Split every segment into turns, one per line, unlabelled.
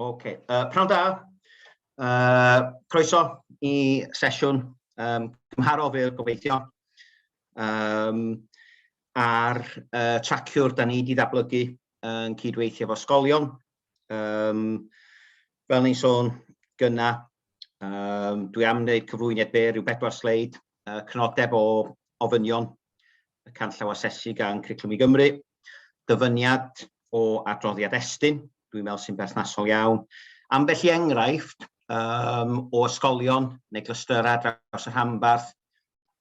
Ok, uh, pnawn da. Uh, croeso i sesiwn um, cymharol fel gobeithio um, ar uh, traciwr da ni wedi ddatblygu yn cydweithio efo sgolion. Um, fel ni'n sôn gyna, um, dwi am wneud cyflwyniad byr rhyw bedwar sleid, uh, cynodeb o ofynion y canllaw asesu gan Cwriclwm i Gymru, dyfyniad o adroddiad Estyn, dwi'n meddwl sy'n berthnasol iawn. Ambell i enghraifft um, o ysgolion neu glystyrau draws y rhanbarth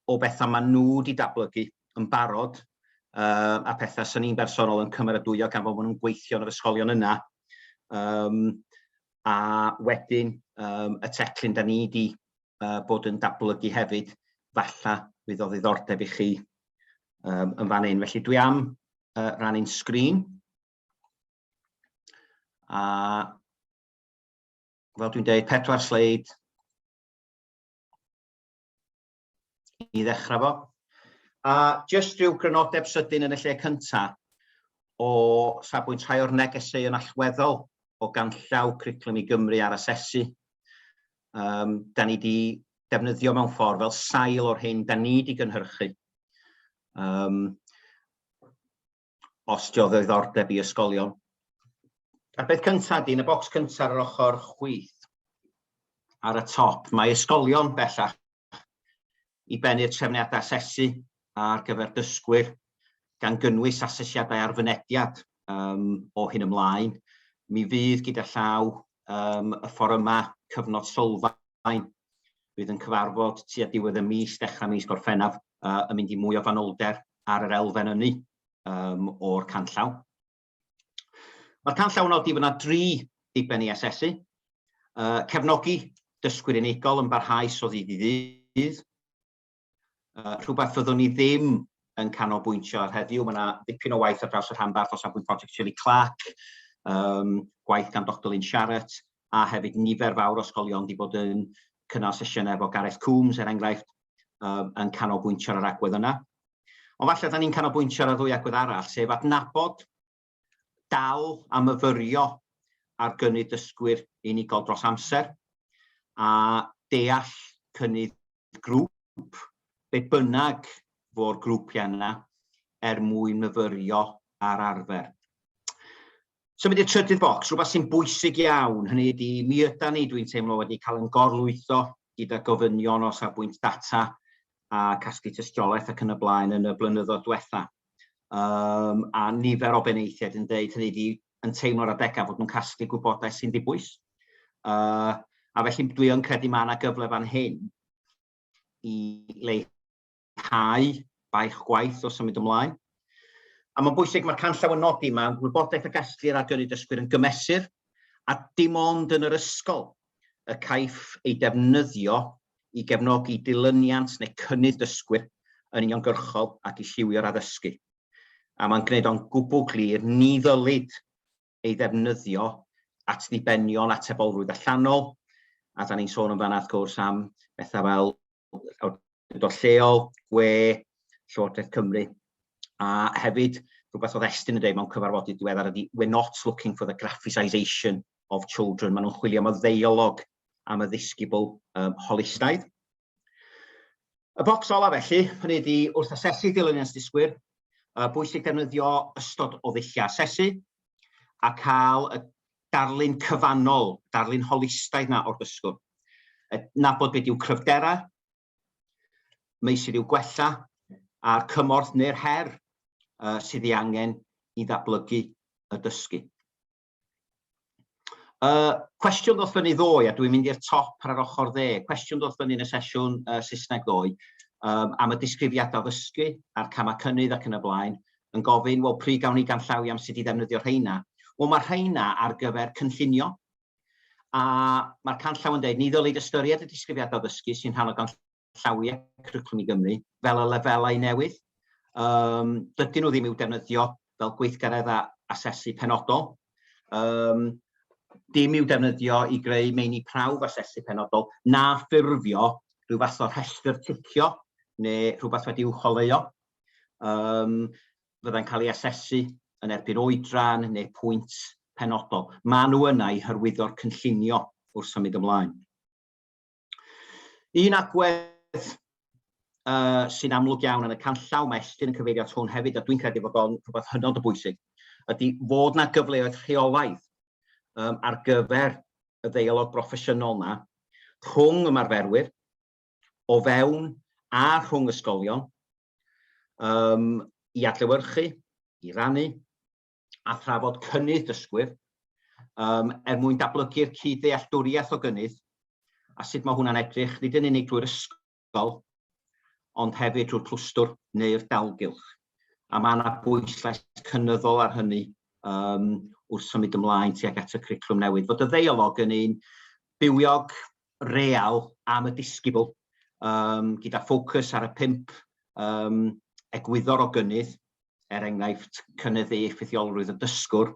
o bethau maen nhw wedi dablygu yn barod uh, a pethau sy'n ni'n bersonol yn cymeradwyo gan fod maen nhw'n gweithio yn yr ysgolion yna. Um, a wedyn um, y teclyn da ni wedi uh, bod yn datblygu hefyd, falla fydd o ddiddordeb i chi um, yn fan hyn. Felly dwi am uh, rannu'n sgrin. A fel dwi'n dweud, pedwar sleid i ddechrau fo. A jyst rhyw grynodeb sydyn yn y lle cyntaf o safbwynt rhai o'r negesau yn allweddol o ganllaw Criclwm i Gymru ar asesu. um, da ni wedi defnyddio mewn ffordd fel sail o'r hyn da ni wedi gynhyrchu. Um, os dio ddoddordeb i ysgolion. A'r beth cyntaf di, yn y bocs cyntaf ar yr ochr chwith, ar y top, mae ysgolion bellach i ben i'r trefniadau asesu ar gyfer dysgwyr, gan gynnwys asesiadau ar fynediad um, o hyn ymlaen. Mi fydd gyda llaw um, y fforymau cyfnod sylfaen fydd yn cyfarfod tua diwedd y mis, dechrau mis Gorffennaf, uh, yn mynd i mwy o fanylder ar yr elfen ynni um, o'r canllaw. Mae'r canllaw yn nodi fod yna dri diben i asesu, uh, cefnogi dysgwyr unigol yn barhaus o ddydd i ddydd, uh, rhywbeth fyddwn ni ddim yn canolbwyntio ar heddiw. Mae yna ddipyn o waith ar draws y rhanbarth o safbwynt prosiect Shirley Clark, um, gwaith gan Dr Lynn Sharrett, a hefyd nifer fawr o ysgolion wedi bod yn cynnal sesiynau efo Gareth Coombs, er enghraifft, um, yn canolbwyntio ar yr agwedd yna. Ond falle da ni'n canolbwyntio ar y ddwy agwedd arall, sef adnabod, dal a myfyrio ar gynnydd dysgwyr unigol dros amser, a deall cynnydd grŵp, be bynnag fo'r grwpiau yna, er mwyn myfyrio ar arfer. Symud i'r trydydd bocs, rhywbeth sy'n bwysig iawn, hynny ydi, mi yda ni, dwi'n teimlo, wedi cael yn gorlwytho gyda gofynion o safbwynt data a casglu tystiolaeth ac yn y blaen yn y blynyddoedd diwetha. Um, a nifer o beneithiaid yn dweud hynny ydi, yn teimlo'r adegau fod nhw'n casglu gwybodaeth sy'n ddibwys. Uh, a felly dwi yn credu mae yna gyfle fan hyn i leihau mwynhau baich gwaith o symud ymlaen. A mae'n bwysig, mae'r canllaw yn nodi, mae wybodaeth a gelltir ar gynnig dysgwyr yn gymesur, a dim ond yn yr ysgol y caiff ei defnyddio i gefnogi dilyniant neu cynnydd dysgwyr yn uniongyrchol ac i lliwio'r addysgu. A mae'n gwneud o'n gwbl glir, ni ddylid ei ddefnyddio at ddibenion atebolrwydd allanol, a da ni'n sôn yn fanna wrth gwrs am bethau fel awdurdod lleol, gwe, Llywodraeth Cymru, a hefyd rhywbeth oedd Estyn yn dweud mewn cyfarfodydd diweddar ydy we're not looking for the graphicisation of children, maen nhw'n chwilio am y ddeialog am y ddisgybl um, holistaidd. Y bocs olaf felly, hynny ydi wrth asesu dilyniant dysgwyr, uh, bwysig defnyddio ystod o ddulliau asesu a cael y darlun cyfannol, darlun holistaidd na o'r dysgwr. Nabod beth yw cryfderau, meysydd i'w gwella a'r cymorth neu'r her uh, sydd ei angen i ddatblygu y dysgu. Uh, cwestiwn ddoth fyny ddoe, a dwi'n mynd i'r top ar yr ochr dde, cwestiwn ddoth fyny yn y sesiwn uh, Saesneg ddoe, um, am y disgrifiadau ddysgu a'r camau cynnydd ac yn y blaen, yn gofyn, wel, pryd gawn ni ganllawi am sut i ddefnyddio rheina? Wel, mae rheina ar gyfer cynllunio, a mae'r canllaw yn dweud, ni ddylid ystyried y disgrifiadau ddysgu sy'n rhan o ganllaw llawiau cwricwlwm i Gymru fel y lefelau newydd. Um, dydyn nhw ddim i'w defnyddio fel gweithgaredd a asesu penodol. Um, dim i'w defnyddio i greu meini prawf asesu penodol na ffurfio rhyw fath o rhestr ticio neu rhywbeth wedi uwcholeuo. Um, fydda'n cael ei asesu yn erbyn oedran neu pwynt penodol. Mae nhw yna i hyrwyddo'r cynllunio wrth symud ymlaen. Un agwedd uh, sy'n amlwg iawn yn y canllaw, mae Estyn yn cyfeirio at hwn hefyd, a dwi'n credu bod o'n rhywbeth hynod o bwysig, ydy fod na gyfleoedd rheolaidd um, ar gyfer y ddeialog broffesiynol yna rhwng ymarferwyr o fewn a rhwng ysgolion um, i adlewyrchu, i rannu, a thrafod cynnydd dysgwyr um, er mwyn dablygu'r cyd-ddealltwriaeth o gynnydd a sut mae hwnna'n edrych, nid yn unig drwy'r ysgol, ond hefyd drwy'r clwstwr neu'r dalgylch. A mae yna bwyslais cynyddol ar hynny um, wrth symud ymlaen tuag at y cwricwlwm newydd. Fod y ddeialog yn un bywiog real am y disgybl, um, gyda ffocws ar y pimp um, egwyddor o gynnydd, er enghraifft, cynyddu effeithiolrwydd y dysgwr,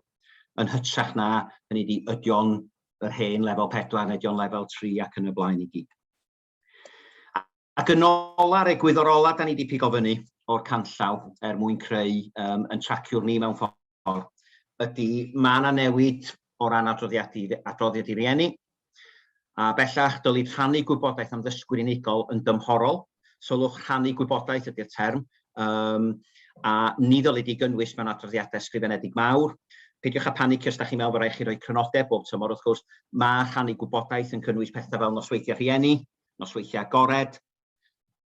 yn hytrach na, hynny ydi, ydio'n yr hen lefel 4, neu ydio'n lefel 3 ac yn y blaen i gyd. Ac yn ola, ar egwyddor ola, da ni wedi pigo fyny o'r canllaw er mwyn creu um, yn traciwr ni mewn ffordd, ydy mae yna newid o ran adroddiad i, adroddiad i rieni, A bellach, dylid rhannu gwybodaeth am ddysgwyr unigol yn dymhorol, sylwch rhannu gwybodaeth ydy'r term, um, a ni ddylid ei gynnwys mewn adroddiadau ysgrifenedig mawr. Peidiwch â panicio os da chi'n meddwl bod rhaid chi roi crynodeb bob tymor, wrth gwrs, mae rhannu gwybodaeth yn cynnwys pethau fel nosweithiau rhieni, nosweithiau agored,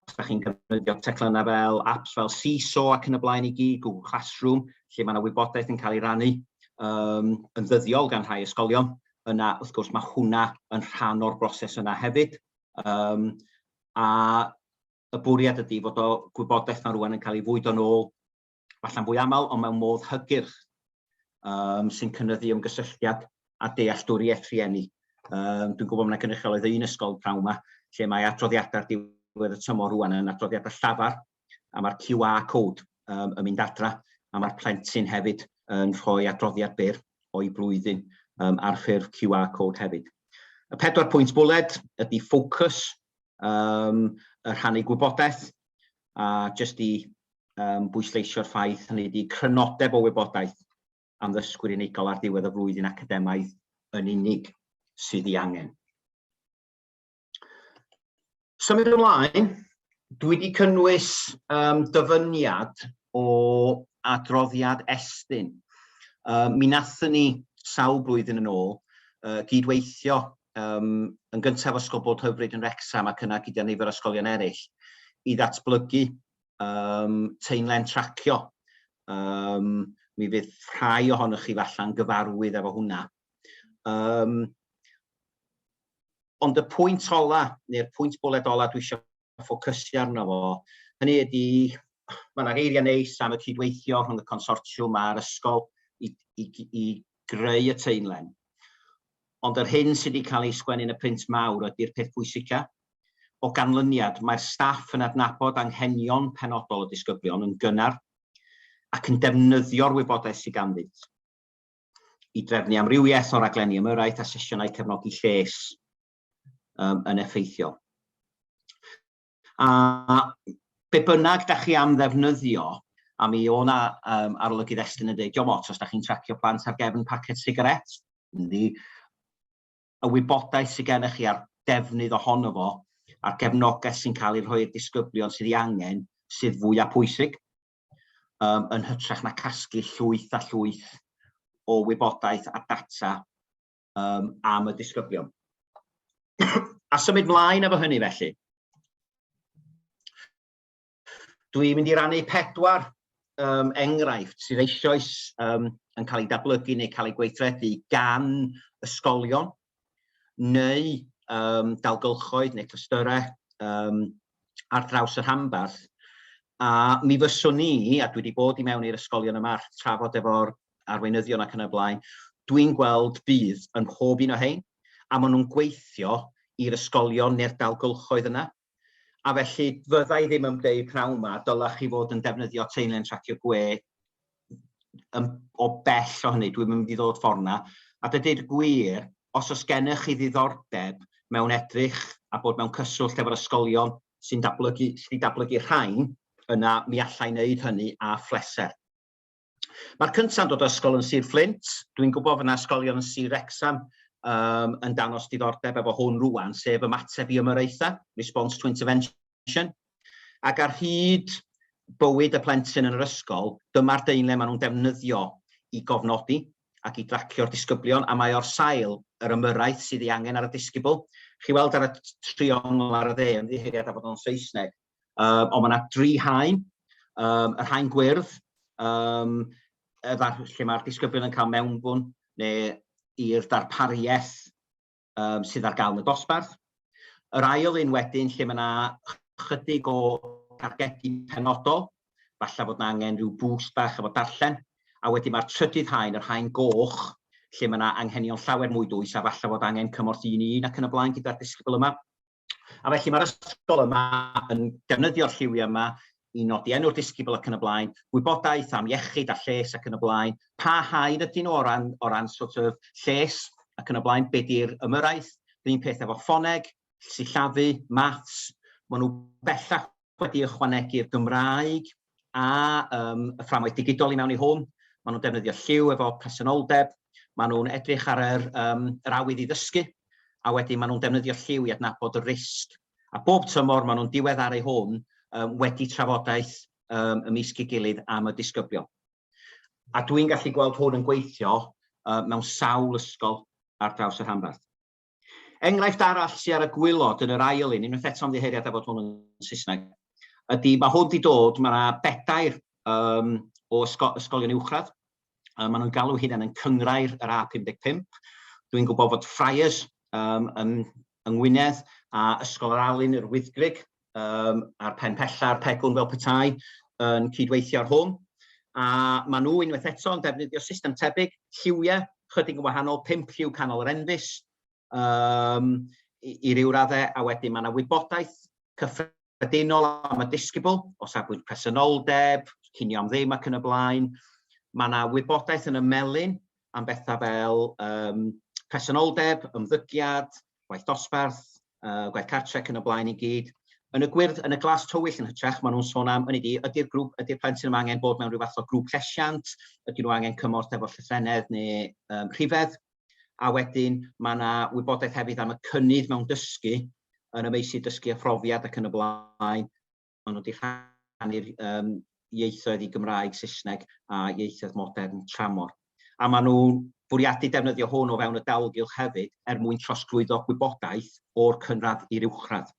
Os da chi'n defnyddio teclynau fel apps fel Seesaw ac yn y blaen i gyd, Google Classroom, lle mae yna wybodaeth yn cael ei rannu um, yn ddyddiol gan rhai ysgolion, yna wrth gwrs mae hwnna yn rhan o'r broses yna hefyd. Um, a y bwriad ydy fod o gwybodaeth mae rwan yn cael ei fwyd o'n ôl falla'n fwy aml ond mewn modd hygyrch um, sy'n cynnyddu ymgysylltiad a dealltwriaeth rhieni. Um, dwi'n gwybod mae'n gynrychiol oedd un ysgol prawn yma lle mae adroddiadau'r diwedd y tymor rwan yn adroddiadau llafar a mae'r QR code um, yn mynd adra a mae'r plentyn hefyd yn rhoi adroddiad byr o'i blwyddyn um, ar ffurf QR code hefyd. Y pedwar pwynt bwled ydy ffocws, um, y rhannu gwybodaeth, a jyst i um, bwysleisio'r ffaith hynny ydy crynodeb o wybodaeth am ddysgwyr unigol ar ddiwedd y flwyddyn academaidd yn unig sydd ei angen. Symud ymlaen, dwi wedi cynnwys um, dyfyniad o adroddiad Estyn. Um, mi nathyn ni sawl blwyddyn yn ôl uh, gydweithio um, yn gyntaf Ysgol Bod Hyfryd yn Rexham ac yna gyda nifer ysgolion eraill i ddatblygu um, teimlen tracio. Um, mi fydd rhai ohonych chi falle'n gyfarwydd efo hwnna. Um, ond y pwynt ola, neu'r pwynt bwled ola dwi eisiau ffocysu arno fo, hynny ydy, mae yna geiriau neis am y cydweithio rhwng y consortiwm a'r ysgol i, i, i greu y teimlen. Ond yr hyn sydd wedi cael ei sgwennu'n y print mawr ydy'r peth pwysica, O ganlyniad, mae'r staff yn adnabod anghenion penodol y disgyblion yn gynnar ac yn defnyddio'r wybodaeth sydd ganddynt i drefnu amrywiaeth o raglenni ymyrraeth a sesiynau cefnogi lles um, yn effeithiol. A be bynnag da chi am ddefnyddio, a mi o na um, arolygydd Estyn yn dweud, diom ots os da chi'n tracio plant ar gefn pacet sigaret, yndi, y wybodaeth sydd gennych chi a'r defnydd ohono fo, a'r gefnogaeth sy'n cael ei rhoi i'r disgyblion sydd ei angen sydd fwy a pwysig, um, yn hytrach na casglu llwyth a llwyth o wybodaeth a data um, am y disgyblion. a symud mlaen efo hynny felly. Dwi'n mynd i rannu pedwar um, enghraifft sydd eisoes um, yn cael ei datblygu neu cael ei gweithredu gan ysgolion neu um, dalgylchoedd neu clystyrau um, ar draws y rhanbarth. A mi fyswn ni, a dwi wedi bod i mewn i'r ysgolion yma, trafod efo'r arweinyddion ac yn y blaen, dwi'n gweld bydd yn pob un o hein, a maen nhw'n gweithio i'r ysgolion neu'r dalgylchoedd yna, A felly, fydda i ddim yn deud pnawn 'ma, dylech chi fod yn defnyddio teulu'n tracio gwe yn, o bell o hynny, dwi'n mynd i ddod ffordd 'na. A dydy'r gwir, os oes gennych chi ddiddordeb mewn edrych a bod mewn cyswllt efo'r ysgolion sy'n dablygu, sydd wedi dablygu rhain, yna mi allai wneud hynny â phleser. Mae'r cynta'n dod o ysgol yn Sir Fflint. Dwi'n gwybod fod yna ysgolion yn Sir Wrecsam um, yn danos diddordeb efo hwn rwan, sef ymateb i ymyraethau, response to intervention. Ac ar hyd bywyd y plentyn yn yr ysgol, dyma'r deinle maen nhw'n defnyddio i gofnodi ac i dracio'r disgyblion, a mae o'r sail yr ymyraeth sydd ei angen ar y disgybl. Chi weld ar y triongl ar y dde, yn ddiheiriad a bod o'n Saesneg, Um, ond mae yna dri haen, um, yr haen gwyrdd, um, lle mae'r disgyblion yn cael mewnbwn neu i'r darpariaeth um, sydd ar gael yn y dosbarth. Yr ail un wedyn lle mae yna chydig o targedu penodol, falle bod yna angen rhyw bwst bach efo darllen, a wedyn mae'r trydydd haen, yr haen goch, lle mae yna anghenion llawer mwy dwys a falle bod angen cymorth un i un ac yn y blaen gyda'r disgybl yma. A felly mae'r ysgol yma yn defnyddio'r lliwiau yma i nodi enw'r disgybl ac yn y blaen, gwybodaeth am iechyd a lles ac yn y blaen, pa haen ydyn nhw o ran, o ran sort of lles ac yn y blaen, be di'r ymyrraeth, yr un peth efo ffoneg, sillafu, maths, maen nhw bellach wedi ychwanegu'r Gymraeg a um, y fframwaith digidol i mewn i hwn. Maen nhw'n defnyddio lliw efo presenoldeb, maen nhw'n edrych ar yr, um, yr awydd i ddysgu, a wedyn maen nhw'n defnyddio lliw i adnabod y risg. A bob tymor maen nhw'n diweddaru hwn um, wedi trafodaeth um, y mis gilydd am y disgyblion. A dwi'n gallu gweld hwn yn gweithio uh, mewn sawl ysgol ar draws y rhanbarth. Enghraifft arall sy ar y gwylod yn yr ail un, unwaith eto'n ddiheuriad a fod hwn yn Saesneg, ydy mae hwn wedi dod, mae yna bedair um, o ysgol, ysgolion uwchradd, um, maen nhw'n galw hynna'n yn cyngrair yr A55. Dwi'n gwybod fod Friars um, yn, yng Ngwynedd a Ysgol yr Alun, yr Wyddgrig, um, a'r pen pella'r pegwn fel petai yn cydweithio ar hwn. A maen nhw unwaith eto yn defnyddio system tebyg, lliwiau, chydig yn wahanol, 5 lliw canol yr enfus, um, i, i ryw raddau, a wedyn mae yna wybodaeth cyffredinol am y disgybl, o safbwynt presenoldeb, cynio am ddim ac yn y blaen. Mae yna wybodaeth yn y melin am bethau fel um, presenoldeb, ymddygiad, gwaith dosbarth, uh, gwaith cartrec yn y blaen i gyd. Yn y gwyrdd, yn y glas tywyll yn hytrach, maen nhw'n sôn am, yn ydi, ydy'r grŵp, ydy'r plentyn yma angen bod mewn rhyw fath o grŵp llesiant, ydyn nhw angen cymorth efo llythrenedd neu um, rhifedd, a wedyn mae yna wybodaeth hefyd am y cynnydd mewn dysgu yn y meysydd dysgu a phrofiad ac yn y blaen, maen nhw wedi rhannu'r um, ieithoedd i Gymraeg, Saesneg a ieithoedd modern tramor. A maen nhw'n bwriadu defnyddio hwn o fewn y dalgylch hefyd er mwyn trosglwyddo gwybodaeth o'r cynradd i'r uwchradd.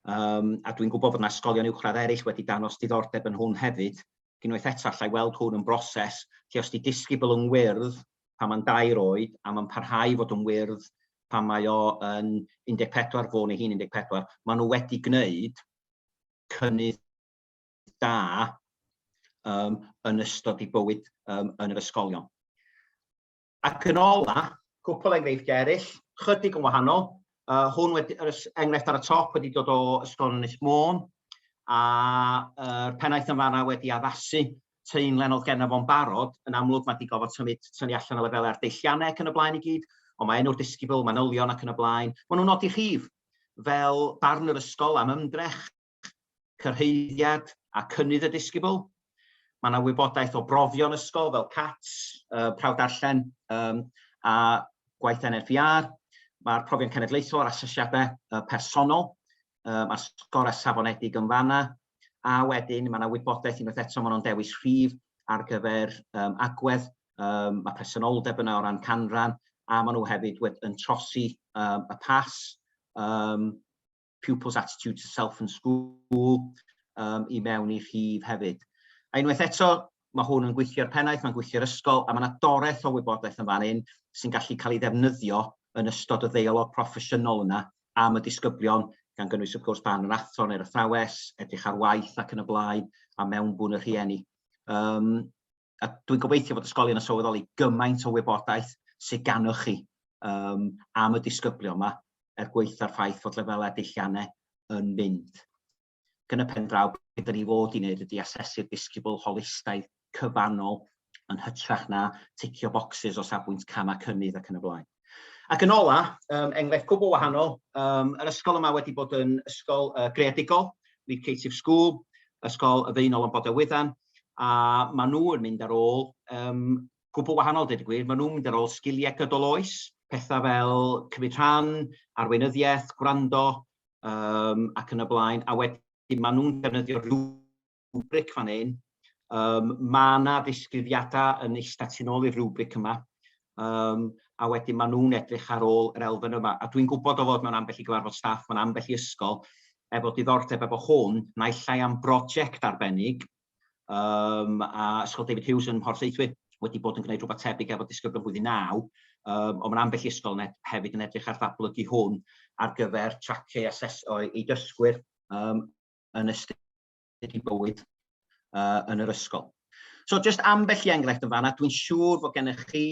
Um, a dwi'n gwybod bod yna ysgolion uwchradd eraill wedi danos diddordeb yn hwn hefyd. Unwaith eto, allai weld hwn yn broses lle os di disgybl yn wyrdd pan mae'n dair oed a mae'n parhau fod yn wyrdd pan mae o yn 14 fôn ei hun 14, maen nhw wedi gwneud cynnydd da um, yn ystod ei bywyd um, yn yr ysgolion. Ac yn ola, cwpl enghreifftiau eraill, chydig yn wahanol. Uh, hwn wedi, yr enghraifft ar y top wedi dod o Ysgol Ynys Môn, a uh, pennaeth yn fanna wedi addasu teimlen oedd genna fo'n barod, yn amlwg mae wedi gofod symud syni allan o lefelau ar deilliannau ac yn y blaen i gyd, ond mae enw'r disgybl, manylion ac yn y blaen, maen nhw'n nodi rhif fel barn yr ysgol am ymdrech, cyrhaeddiad a cynnydd y disgybl. Mae yna wybodaeth o brofion ysgol fel CATS, uh, prawf darllen um, a gwaith NFIR. Mae'r profion cenedlaethol a'r asesiadau uh, personol, uh, mae'r sgorau safonedig yn fanna, a wedyn mae yna wybodaeth unwaith eto maen nhw'n dewis rhif ar gyfer um, agwedd, um, mae presenoldeb yna o ran canran, a maen nhw hefyd wed, yn trosi um, y pas, um, pupils attitude to self and school, um, i mewn i rhif hefyd. A unwaith eto, Mae hwn yn gweithio i'r pennaeth, mae'n gweithio i'r ysgol, a mae yna doreth o wybodaeth yn fan hyn sy'n gallu cael ei ddefnyddio yn ystod y ddeialog proffesiynol yna am y disgyblion, gan gynnwys wrth gwrs barn yr athro neu'r athrawes, edrych ar waith ac yn y blaen, a mewnbwn y rhieni. Um, a dwi'n gobeithio fod ysgolion yn sylweddoli gymaint o wybodaeth sydd ganoch chi um, am y disgyblion yma er gweitha'r ffaith fod lefelau dilliannau yn mynd. Ac yn y pen draw, be da ni fod i wneud ydy asesu'r disgybl holistaidd cyfannol yn hytrach na ticio bocsys o safbwynt camau cynnydd ac yn y blaen. Ac yn ola, um, enghraifft cwbl wahanol, um, yr ysgol yma wedi bod yn ysgol uh, greadigol, Creative School, ysgol y ddeunol yn Bodau Wyddan, a maen nhw yn mynd ar ôl um, gwbl wahanol, dweud y gwir, maen nhw'n mynd ar ôl sgiliau gydol oes, pethau fel cymryd rhan, arweinyddiaeth, gwrando, um, ac yn y blaen, a wedyn maen nhw'n defnyddio rhywbric fan hyn. Um, mae yna ddisgrifiadau yn eistedd tu ôl i'r rhywbric yma, um, a wedyn maen nhw'n edrych ar ôl yr elfen yma. A dwi'n gwybod o fod mewn ambell i gyfarfod staff, mewn ambell i ysgol, efo diddordeb efo hwn, naill ai am brosiect arbennig, um, a Ysgol David Hughes yn Mhorth Seithwy wedi bod yn gwneud rhywbeth tebyg efo disgyblion blwyddyn 9, um, ond mae ambell i ysgol yn hefyd yn edrych ar ddatblygu hwn ar gyfer traciau aseso i dysgwyr um, yn ystod i bywyd uh, yn yr ysgol. So, just ambell i enghraifft yn fanna, dwi'n siŵr fod gennych chi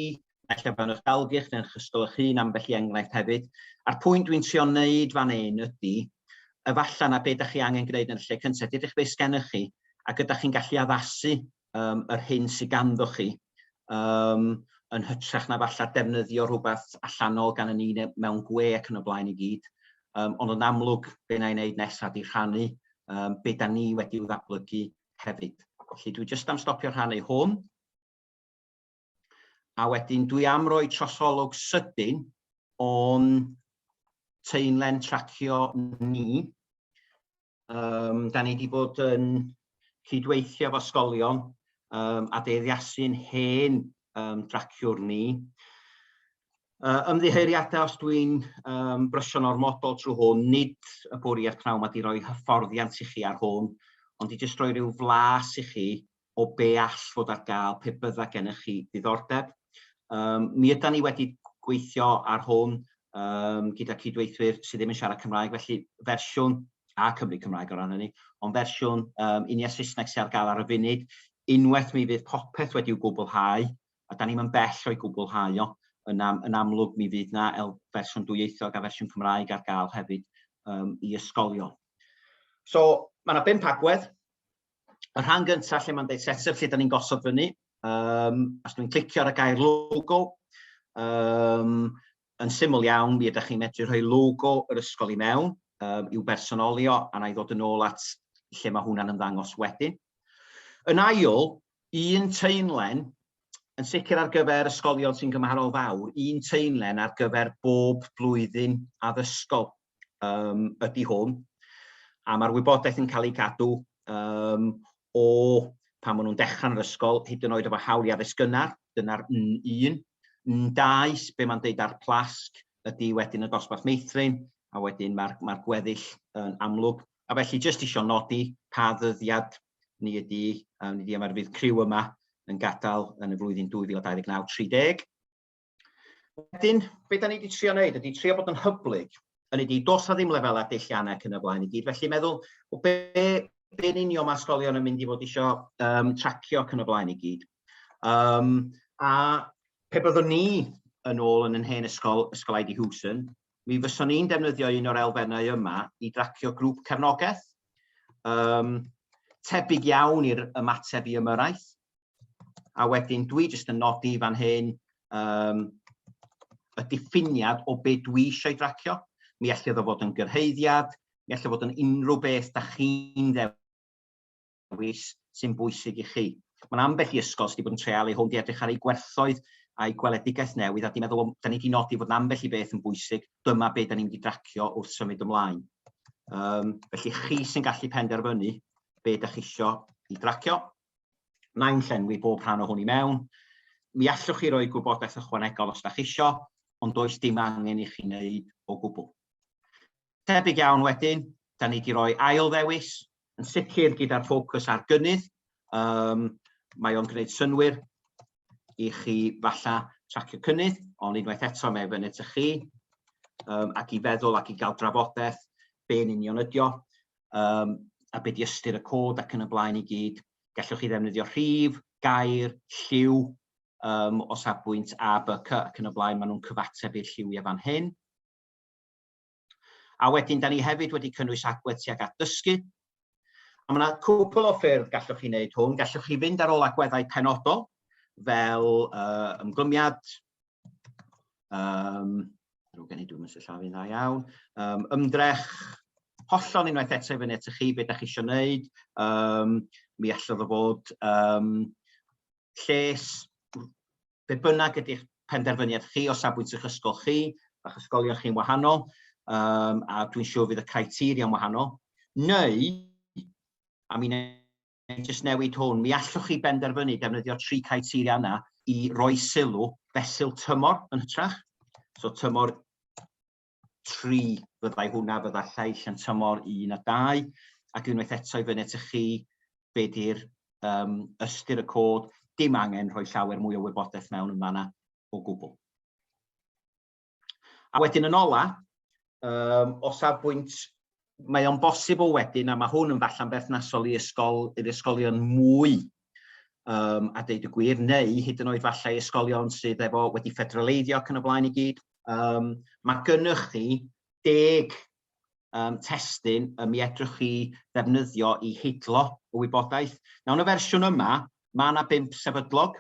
Naill o fewn eich dalgylch neu'n chysgol eich hun ambell i enghraifft hefyd. A'r pwynt dwi'n trio wneud fan hyn ydy, efallai na be da chi angen gwneud yn y lle cyntaf, dydych beth sgennych chi ac ydych chi'n gallu addasu um, yr hyn sydd ganddo chi um, yn hytrach na falla defnyddio rhywbeth allanol gan y ni mewn gwe ac yn y blaen i gyd. Um, ond yn amlwg, be na i wneud nesaf di rhannu um, be da ni wedi i'w ddatblygu hefyd. Felly dwi jyst am stopio rhannu hwn. a wedyn dwi am roi trosolwg sydyn o'n teunlen tracio ni. Um, da ni wedi bod yn cydweithio efo ysgolion um, a deiriasu'n hen um, draciwr ni. Uh, ymddiheuriadau os dwi'n um, brysio'n ormodol trwy hwn, nid y bwriad pnawn mae wedi rhoi hyfforddiant i chi ar hwn, ond i jyst roi rhyw flas i chi o be all fod ar gael pe bydda gennych chi ddiddordeb. Um, mi yda ni wedi gweithio ar hwn um, gyda cydweithwyr sydd ddim yn siarad Cymraeg, felly fersiwn a Cymru Cymraeg o ran hynny, ond fersiwn um, unia Saesneg sy'n ar gael ar y funud, unwaith mi fydd popeth wedi'w gwblhau, a da ni'n mynd bell o'i gwblhau o, yn, am, yn amlwg mi fydd na el fersiwn dwyieithog a fersiwn Cymraeg ar gael hefyd um, i ysgolion. So, mae yna bimp agwedd, y rhan gynta lle mae'n deud set up lle 'dan ni'n gosod fyny um, os dwi'n clicio ar y gair logo um, yn syml iawn mi ydych chi'n medru rhoi logo yr ysgol i mewn um, i'w bersonolio a na i ddod yn ôl at lle mae hwnna'n ymddangos wedyn. Yn ail, un teunlen, yn sicr ar gyfer ysgolion sy'n gymharol fawr, un teunlen ar gyfer bob blwyddyn addysgol. um, ydy hwn, a mae'r wybodaeth yn cael ei gadw um, o pan maen nhw'n dechrau yn yr ysgol, hyd yn oed efo hawl i addysg gynnar, dyna'r N1. N2, be mae'n deud ar plasg, ydy wedyn y dosbarth meithrin, a wedyn mae'r ma gweddill yn amlwg. A felly, jyst eisiau nodi pa ddyddiad ni ydy, um, ni yma, fydd criw yma yn gadael yn y flwyddyn 2029-30. Wedyn, beth da ni wedi trio wneud ydy trio bod yn hyblyg, yn ydy dos na ddim lefelau deilliannau ac yn y blaen i gyd. Felly meddwl, o be, be yn union mae ysgolion yn mynd i fod eisiau um, tracio ac yn y blaen i gyd. Um, a pe byddwn ni yn ôl yn yn hen ysgol, ysgol Aidi Hewson, mi fyswn ni'n defnyddio un o'r elfennau yma i dracio grŵp cefnogaeth, um, tebyg iawn i'r ymateb i ymyrraeth, A wedyn dwi jyst yn nodi fan hyn um, y diffiniad o be dwi eisiau ei dracio. Mi allai ddod fod yn gyrhaeddiad, mi allai fod yn unrhyw beth da chi'n ddewis sy'n bwysig i chi. Mae'n ambell i ysgol sydd wedi bod yn treal ei hwn di edrych ar ei gwerthoedd a'i gweledigaeth newydd a di meddwl, da ni wedi nodi fod yn ambell i beth yn bwysig, dyma beth da ni'n mynd i dracio wrth symud ymlaen. Um, felly chi sy'n gallu penderfynu beth da chi eisiau i dracio. Nain llenwi bob rhan o hwn i mewn. Mi allwch chi roi gwybodaeth ychwanegol os da chi isio, ond does dim angen i chi wneud o gwbl. Tebyg iawn wedyn, da ni wedi rhoi ail ddewis, yn sicr gyda'r ffocws ar gynnydd, um, mae o'n gwneud synwyr i chi falla tracio cynnydd, ond unwaith eto mae fyny ty chi, um, ac i feddwl ac i gael drafodaeth be'n union ydio. um, a beth i ystyr y cod ac yn y blaen i gyd. Gallwch chi ddefnyddio rhif, gair, lliw, um, o safbwynt A, B, C ac yn y blaen, maen nhw'n cyfateb i'r lliwiau fan hyn. A wedyn, da ni hefyd wedi cynnwys agwedd tuag at dysgu. A mae yna cwpl o ffyrdd gallwch chi wneud hwn. Gallwch chi fynd ar ôl agweddau penodol, fel uh, ymglymiad, Um, rwy'n gen i dwi'n mynd llaw fi'n dda iawn. Um, ymdrech hollol unwaith eto i fyny at chi beth da chi eisiau gwneud. Um, mi allodd o fod um, lles be bynnag ydy'ch penderfyniad chi o safbwynt eich ysgol chi, a'ch ysgolion chi'n wahanol, um, a dwi'n siŵr fydd y criteria yn wahanol, neu, a mi neu jyst newid hwn, mi allwch chi benderfynu defnyddio tri criteria yna i roi sylw fesul tymor yn hytrach. So tymor 3 fyddai hwnna, fydda lleill yn tymor 1 a 2, ac unwaith eto i fyny at chi be di'r um, ystyr y cod, dim angen rhoi llawer mwy o wybodaeth mewn yn fanna o gwbl. A wedyn yn ola, um, o safbwynt mae o'n bosibl wedyn, a mae hwn yn falle'n berthnasol i ysgol, i'r ysgolion mwy um, a deud y gwir, neu hyd yn oed falle ysgolion sydd efo wedi ffederaleiddio ac yn y blaen i gyd. Um, mae gennych chi deg um, testyn y mi edrych chi ddefnyddio i hidlo y wybodaeth. Nawr, yn y fersiwn yma, mae yna bimp sefydlog,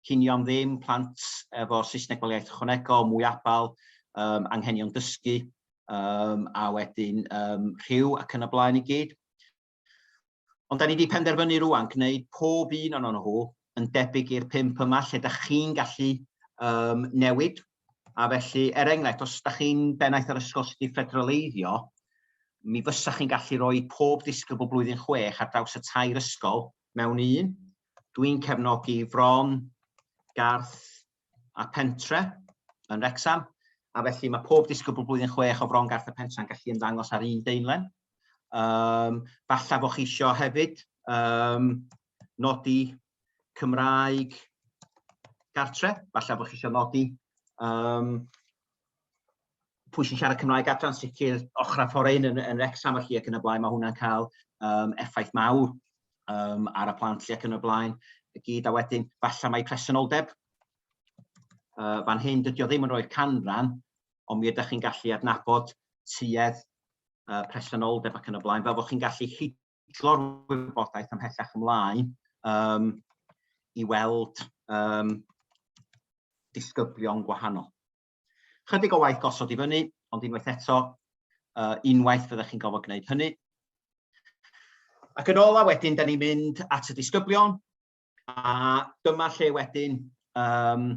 cinio am ddim, plant efo Saesneg fel iaith ychwanegol, mwy abal, um, anghenion dysgu, um, a wedyn um, rhyw ac yn y blaen i gyd. Ond da ni wedi penderfynu rwan gwneud pob un o'n nhw yn debyg i'r pimp yma lle da chi'n gallu um, newid. A felly, er enghraifft, os da chi'n bennaeth ar ysgol sydd wedi ffedroleiddio, mi fysa chi'n gallu rhoi pob disgybl blwyddyn chwech ar draws y tair ysgol mewn un, Dwi'n cefnogi Fron, Garth a Pentre yn Wrexham, a felly mae pob disgybl blwyddyn chwech o Fron, Garth a Pentre yn gallu ymddangos ar un deunlen. Um, falla fo chi isio hefyd um, nodi Cymraeg gartre, falla fo chi isio nodi um, pwy sy'n siarad Cymraeg adran sicr ochr a ffordd yn, yn Rexham chi ac yn y blaen, mae hwnna'n cael um, effaith mawr um, ar y plant chi ac yn y blaen y gyd a wedyn falle mae presenoldeb uh, fan hyn dydy o ddim yn rhoi'r canran ond mi ydych chi'n gallu adnabod tuedd uh, presenoldeb ac yn y blaen fel bod chi'n gallu hidlo'r wybodaeth ymhellach ymlaen um, i weld um, disgyblion gwahanol. Chydig o waith gosod i fyny, ond unwaith eto, uh, unwaith fyddech chi'n gofod gwneud hynny. Ac yn ola wedyn, da ni'n mynd at y disgyblion, a dyma lle wedyn, um,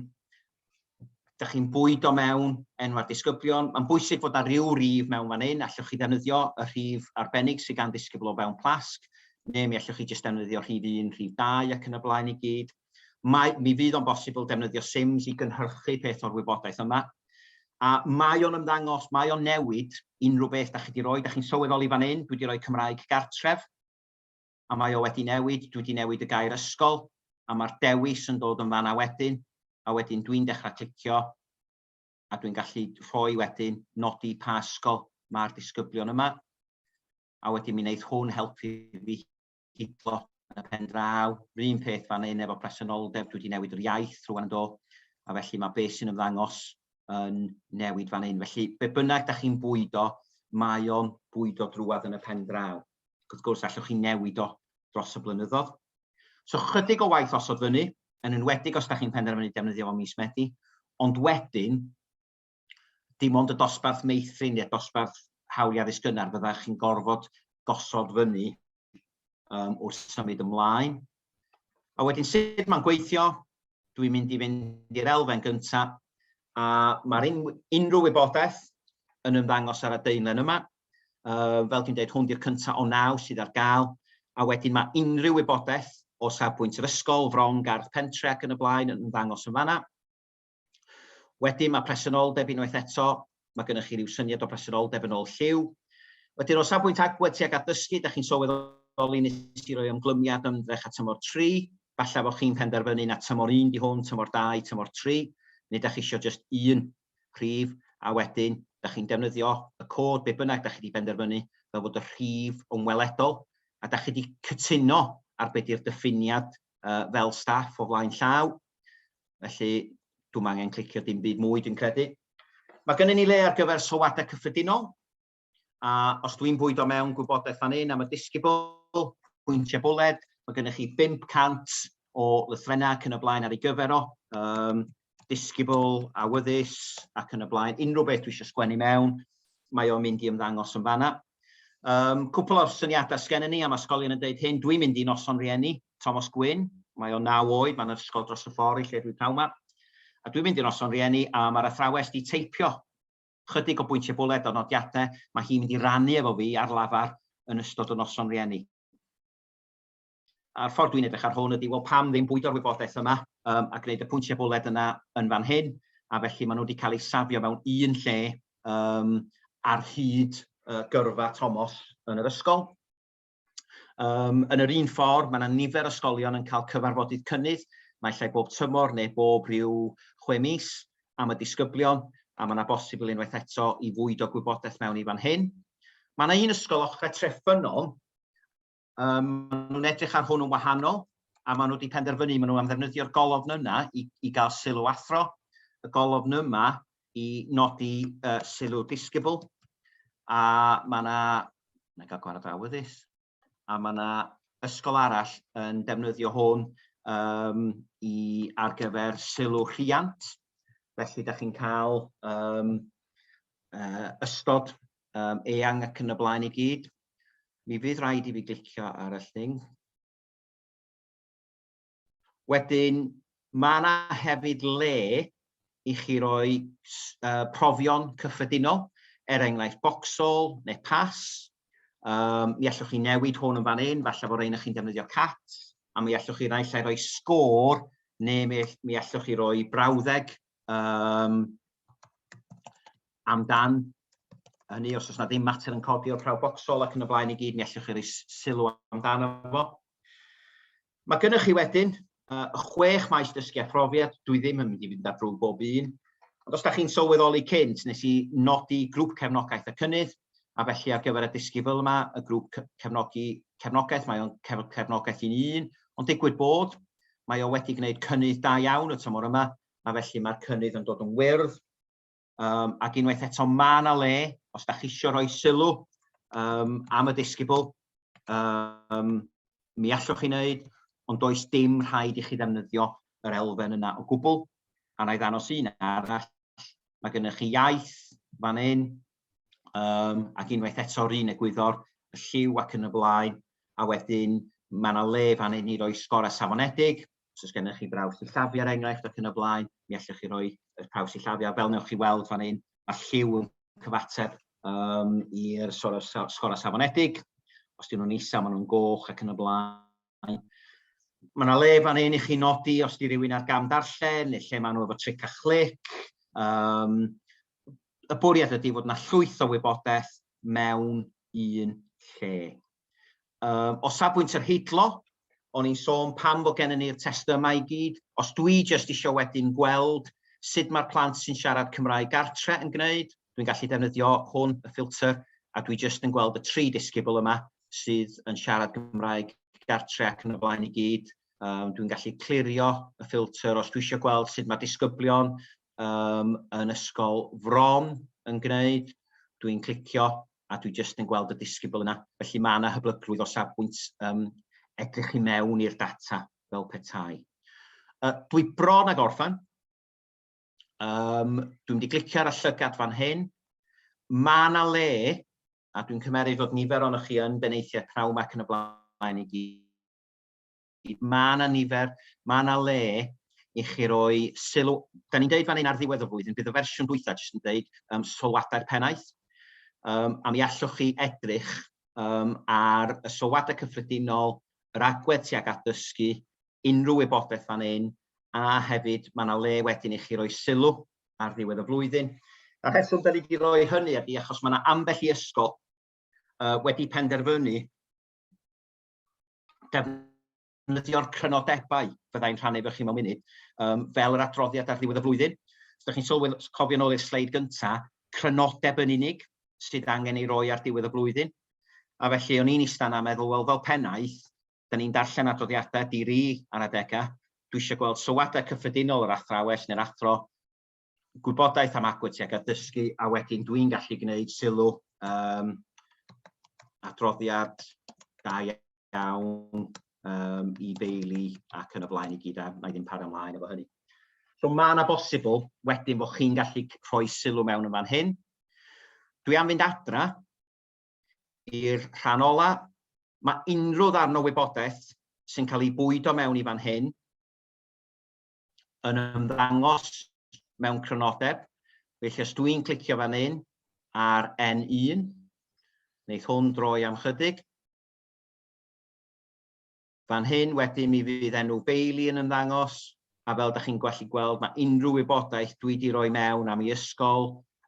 da chi'n bwyd o mewn enw'r disgyblion. Mae'n bwysig fod ar ryw rif mewn fan hyn, allwch chi ddefnyddio y rhif arbennig sydd gan ddisgybl o fewn plasg, neu mi allwch chi jyst ddefnyddio rhif 1, rhif 2 ac yn y blaen i gyd. Mae, mi fydd o'n bosibl defnyddio sims i gynhyrchu peth o'r wybodaeth yma. A mae o'n ymddangos, mae o'n newid unrhyw beth da chi di roi, da chi'n sylweddoli fan hyn, dwi di roi Cymraeg gartref, a mae o wedi newid, dwi di newid y gair ysgol, a mae'r dewis yn dod yn fanna wedyn, a wedyn dwi'n dechrau clicio, a dwi'n gallu rhoi wedyn nodi pa ysgol mae'r disgyblion yma, a wedyn mi wneud hwn helpu fi gydlo yn y pen draw. Yr un peth fan hyn efo presenoldeb, dwi wedi newid yr iaith rwan do, a felly mae beth sy'n ymddangos yn newid fan hyn. Felly, be bynnag da chi'n bwydo, mae o'n bwydo drwad yn y pen draw. Ac wrth gwrs, allwch chi newid o dros y blynyddoedd. So, chydig o waith osod fyny, yn enwedig os da chi'n penderfynu defnyddio fo mis Medi, ond wedyn, dim ond y dosbarth meithrin neu'r dosbarth hawliau addysg gynnar fyddech chi'n gorfod gosod fyny um, wrth symud ymlaen. A wedyn sut mae'n gweithio, dwi'n mynd i fynd i'r elfen gyntaf, a mae'r un, unrhyw wybodaeth yn ymddangos ar y deunlen yma. Uh, fel dwi'n dweud, hwn di'r cyntaf o naw sydd ar gael, a wedyn mae unrhyw wybodaeth o safbwynt yr ysgol, fron, gardd pentre ac yn y blaen yn ymddangos yn fanna. Wedyn mae presenoldeb unwaith eto, mae gennych chi ryw syniad o bresenoldeb yn ôl lliw. Wedyn o safbwynt agwedd tuag at ddysgu, da chi'n sylweddoli nes i roi ymglymiad ymdrech a tymor 3, falle bod chi'n penderfynu na tymor 1 di hwn, tymor 2, tymor 3, neu da chi eisiau just un rhif a wedyn da chi'n defnyddio y cod be bynnag da chi wedi benderfynu fel bod y rhif yn weledol a da chi wedi cytuno ar beth yw'r diffiniad fel staff o flaen llaw. Felly, dwi'n angen clicio dim byd mwy, dwi'n credu. Mae gennym ni le ar gyfer sylwadau cyffredinol, a os dwi'n bwydo mewn gwybodaeth fan hyn am y disgybl, pwyntiau bwled, mae gennych chi 500 o lythrennau ac yn y blaen ar ei gyfer o, um, disgybl, awyddus ac yn y blaen, unrhyw beth dwi eisiau sgwennu mewn, mae o'n mynd i ymddangos yn fanna. Um, cwpl o'r syniadau sgen ni am ysgolion yn dweud hyn, dwi'n mynd i noson rieni, Thomas Gwyn, mae o'n naw oed, mae'n ysgol dros y ffordd i lle dwi'n taw ma, a dwi'n mynd i noson rieni a mae'r athrawes di teipio chydig o bwyntiau bwled o nodiadau, mae hi'n mynd i rannu efo fi ar lafar yn ystod y noson rieni. a'r ffordd dwi'n edrych ar hwn ydy, wel pam ddim bwydo'r wybodaeth yma um, a gwneud y pwyntiau bwled yna yn fan hyn, a felly maen nhw wedi cael eu safio mewn un lle um, ar hyd uh, gyrfa Tomos yn yr ysgol. Um, yn yr un ffordd, mae yna nifer ysgolion yn cael cyfarfodydd cynnydd, mae lle bob tymor neu bob rhyw chwe mis am y disgyblion, a mae yna bosibl unwaith eto i fwyd o gwybodaeth mewn i fan hyn. Mae yna un ysgol ochrau Treffynol Um, maen nhw'n edrych ar hwn yn wahanol, a maen nhw wedi penderfynu, maen nhw am ddefnyddio'r golofn yna i, i gael sylw athro, y golofn yma i nodi uh, sylw disgybl, a mae yna, na gael gwahanol awyddus, a mae yna ysgol arall yn defnyddio hwn um, i ar gyfer sylw rhiant, felly da chi'n cael um, uh, ystod um, eang ac yn y blaen i gyd. Mi fydd rhaid i fi glicio ar y lling. Wedyn, mae yna hefyd le i chi roi uh, profion cyffredinol, er enghraifft boxol neu pas. Um, mi allwch chi newid hwn yn fan hyn, falle bod ein chi'n defnyddio cat, a mi allwch chi roi lle roi sgôr, neu mi, mi allwch chi roi brawddeg um, amdan hynny, os oes yna ddim mater yn codi o'r prawf bocsol ac yn y blaen i gyd, mi allwch chi roi sylw amdano fo. Mae gennych chi wedyn uh, chwech maes dysgu a phrofiad, dwi ddim yn mynd i fynd ar drwy bob un, ond os da chi'n sylweddoli cynt, nes i nodi grŵp cefnogaeth y cynnydd, a felly ar gyfer y dysgu fel yma, y grŵp cefnogi cefnogaeth, mae o'n cefnogaeth i'n un, ond digwydd bod, Mae o wedi gwneud cynnydd da iawn y tymor yma, a felly mae'r cynnydd yn dod yn wyrdd. Um, ac unwaith eto, mae yna le, os da chi eisiau rhoi sylw um, am y disgybl, um, mi allwch chi wneud, ond does dim rhaid i chi ddefnyddio yr elfen yna o gwbl. A na i ddanos un arall, mae gennych chi iaith fan hyn, um, ac unwaith eto run egwyddor, y lliw ac yn y blaen, a wedyn mae yna le fan hyn i roi sgor a safonedig, os oes gennych chi braws i llafu ar er enghraifft ac yn y blaen, mi allwch chi roi y praws i llafu, a fel newch chi weld fan hyn, mae lliw yn cyfateb um, i'r sgor a safonedig, os dyn nhw'n isa, maen nhw'n goch ac yn y blaen, blaen. Mae yna le fan hyn i chi nodi os di rhywun ar gam darllen neu lle maen nhw efo tric a chlic. Um, y bwriad ydy fod yna llwyth o wybodaeth mewn un lle. Um, o safbwynt yr heidlo, o'n i'n sôn pam fod gennym ni'r testau yma i gyd, os dwi jyst eisiau wedyn gweld sut mae'r plant sy'n siarad Cymraeg gartre yn gwneud, Dwi'n gallu defnyddio hwn, y ffilter, a dwi jyst yn gweld y tri disgybl yma sydd yn siarad Gymraeg gartre ac yn y blaen i gyd. Um, dwi'n gallu clirio y ffilter os dwi eisiau gweld sut mae disgyblion um, yn ysgol fron yn gwneud. Dwi'n clicio a dwi jyst yn gweld y disgybl yna. Felly mae yna hyblygrwydd o safbwynt um, edrych i mewn i'r data fel petai. Uh, dwi bron ag orffan. Um, dwi'n wedi glicio ar y llygad fan hyn. Mae yna le, a dwi'n cymeryd fod nifer o'n chi yn beneithiau prawm ac yn y blaen i gyd. Mae yna nifer, mae yna le i chi roi sylw. Da ni'n dweud fan hyn ar ddiwedd y flwyddyn, bydd y fersiwn dwytha jyst yn dweud um, sylwadau'r pennaeth. Um, a mi allwch chi edrych um, ar y sylwadau cyffredinol, yr agwedd tuag at dysgu, unrhyw wybodaeth fan hyn a hefyd mae yna le wedyn i chi roi sylw ar ddiwedd y flwyddyn. Y rheswm da ni wedi rhoi hynny ydy achos mae yna ambell i ysgol uh, wedi penderfynu defnyddio'r crynodebau fyddai'n rhannu efo chi mewn munud, um, fel yr adroddiad ar ddiwedd y flwyddyn. Os ydych chi'n sylwedd, cofio nôl i'r sleid gyntaf, crynodeb yn unig sydd angen ei roi ar diwedd y flwyddyn. A felly o'n i'n istan a meddwl, wel fel pennaeth, Da ni'n darllen adroddiadau di-ri ar adegau. Dwi eisiau gweld sylwadau cyffredinol yr athrawes neu'r athro, gwybodaeth am agwedd tuag at ddysgu, a wedyn dwi'n gallu gwneud sylw um, adroddiad da iawn um, i Bailey ac yn y blaen i gyd a na i ddim para ymlaen efo hynny. So mae yna bosibl wedyn bod chi'n gallu rhoi sylw mewn yn fan hyn. Dwi am fynd adra I'r rhan ola, mae unrhyw ddarn o wybodaeth sy'n cael ei bwydo mewn i fan hyn yn ymddangos mewn crynodeb, felly os dw i'n clicio fan hyn ar N1, wneith hwn droi am chydig, Fan hyn wedyn mi fydd enw Bailey yn ymddangos, a fel da chi'n gallu gweld mae unrhyw wybodaeth dwi di roi mewn am ei ysgol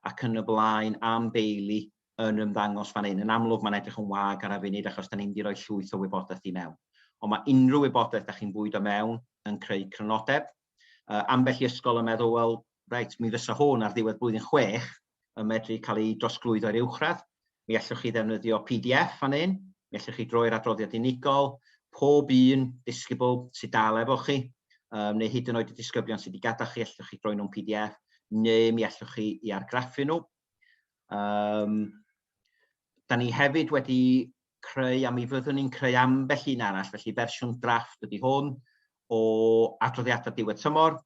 ac yn y blaen am Bailey yn ymddangos fan hyn. Yn amlwg mae'n edrych yn wag ar y funud achos da ni'n di roi llwyth o wybodaeth i mewn. Ond mae unrhyw wybodaeth da chi'n bwydo mewn yn creu crynodeb. Uh, ambell i ysgol yn meddwl, wel, reit, mi fysa hwn ar ddiwedd blwyddyn chwech, yn medru cael ei drosglwyddo i'r uwchradd. Mi allwch chi ddefnyddio pdf fan hyn, mi allwch chi droi'r adroddiad unigol, pob un disgybl sydd dal efo chi, um, neu hyd yn oed y disgyblion sydd wedi gadael chi, allwch chi droi nhw'n pdf, neu mi allwch chi i argraffu nhw. Um, da ni hefyd wedi creu, a mi fyddwn ni'n creu ambell un arall, felly fersiwn drafft ydy hwn, o adroddiadau diwedd tymor,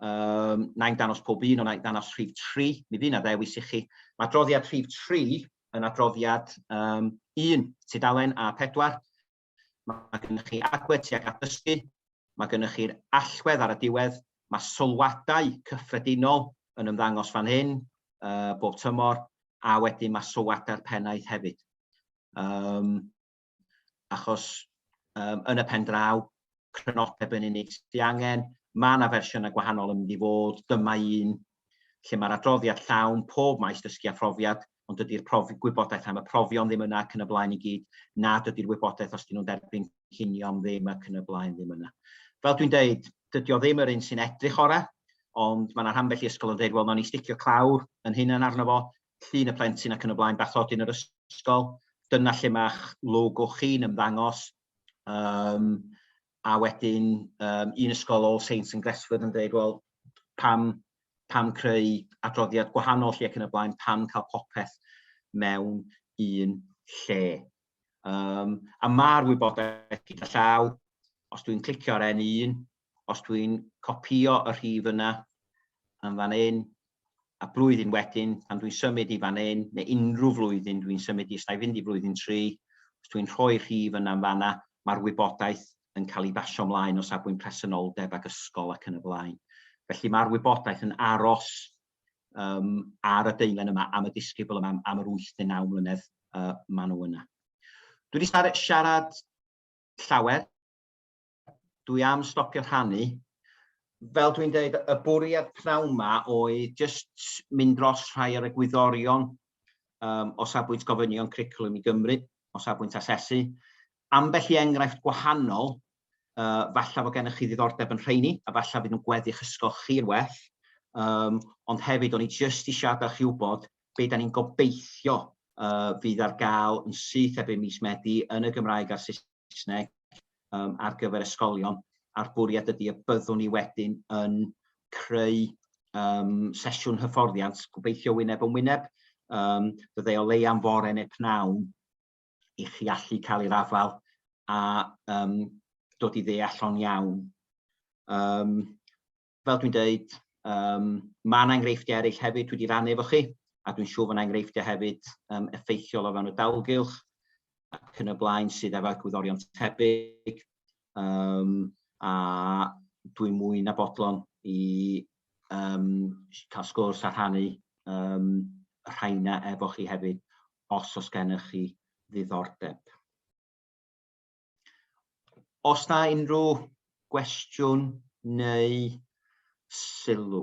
Um, na i'n danos pob un, ond na i'n danos rhif 3. Mi fydd yna ddewis i chi. Mae adroddiad rhif 3 yn adroddiad um, 1, tudalen A4. Mae gennych chi agwedd tuag at dysgu, mae gennych chi'r allwedd ar y diwedd, mae sylwadau cyffredinol yn ymddangos fan hyn uh, bob tymor, a wedyn mae sylwadau'r pennaeth hefyd. Um, achos um, yn y pen draw, crynodeb yn unig sydd angen, mae yna fersiynau gwahanol yn mynd i fod, dyma un lle mae'r adroddiad llawn pob maes dysgu a phrofiad, ond dydy'r profi, gwybodaeth am y profion ddim yna ac yn y blaen i gyd, na dydy'r wybodaeth os dyn nhw'n derbyn cynnion ddim ac yn y blaen ddim yna. Fel dwi'n deud, dydy o ddim yr un sy'n edrych orau, ond mae yna rhan felly ysgol yn dweud, wel, nawn ni sticio clawr yn hyn yn arno fo, llun y plentyn ac yn y blaen, bathodyn yn yr ysgol, dyna lle mae'ch logo chi'n ymddangos, um, a wedyn um, un ysgol All Saints yn Gresford yn dweud, wel, pam, pam creu adroddiad gwahanol lle ac yn y blaen, pam cael popeth mewn un lle. Um, a mae'r wybodaeth gyda llaw, os dwi'n clicio ar N1, os dwi'n copïo y rhif yna yn fan hyn, a blwyddyn wedyn, pan dwi'n symud i fan hyn, neu unrhyw flwyddyn dwi'n symud i, os na i fynd i flwyddyn 3, os dwi'n rhoi'r rhif yna yn fanna, mae'r wybodaeth yn cael ei basio ymlaen o safbwynt presenoldeb ac ysgol ac yn y blaen. Felly mae'r wybodaeth yn aros um, ar y deulen yma, am y disgybl yma, am yr 8 neu 9 mlynedd uh, maen nhw yna. Dwi wedi siarad llawer dwi am stopio rhannu. Fel dwi'n dweud, y bwriad pnawn ma oedd jyst mynd dros rhai o'r egwyddorion um, o safbwynt gofynion cricwlwm i Gymru, o safbwynt asesu. Ambell i enghraifft gwahanol, uh, falle fod gennych chi ddiddordeb yn rheini, a falle fydd nhw'n gweddu'ch ysgol chi'n well, um, ond hefyd o'n i jyst i siarad chi wybod beth da ni'n gobeithio uh, fydd ar gael yn syth erbyn mis Medi yn y Gymraeg a'r Saesneg Saesneg um, ar gyfer ysgolion a'r bwriad ydy y byddwn ni wedyn yn creu um, sesiwn hyfforddiant gobeithio wyneb yn wyneb um, byddai o lei am fore neu pnawn i chi allu cael ei rafael a um, dod i ddeall o'n iawn. Um, fel dwi'n dweud, um, mae yna enghreifftiau eraill hefyd wedi rannu efo chi, a dwi'n siŵr fod yna enghreifftiau hefyd um, effeithiol o fewn y dalgylch ac yn y blaen sydd efo egwyddorion tebyg, um, a dwi'n mwy na bodlon i um, cael sgwrs a rhannu um, rhaina efo chi hefyd, os os gennych chi ddiddordeb. Os na unrhyw gwestiwn neu sylw.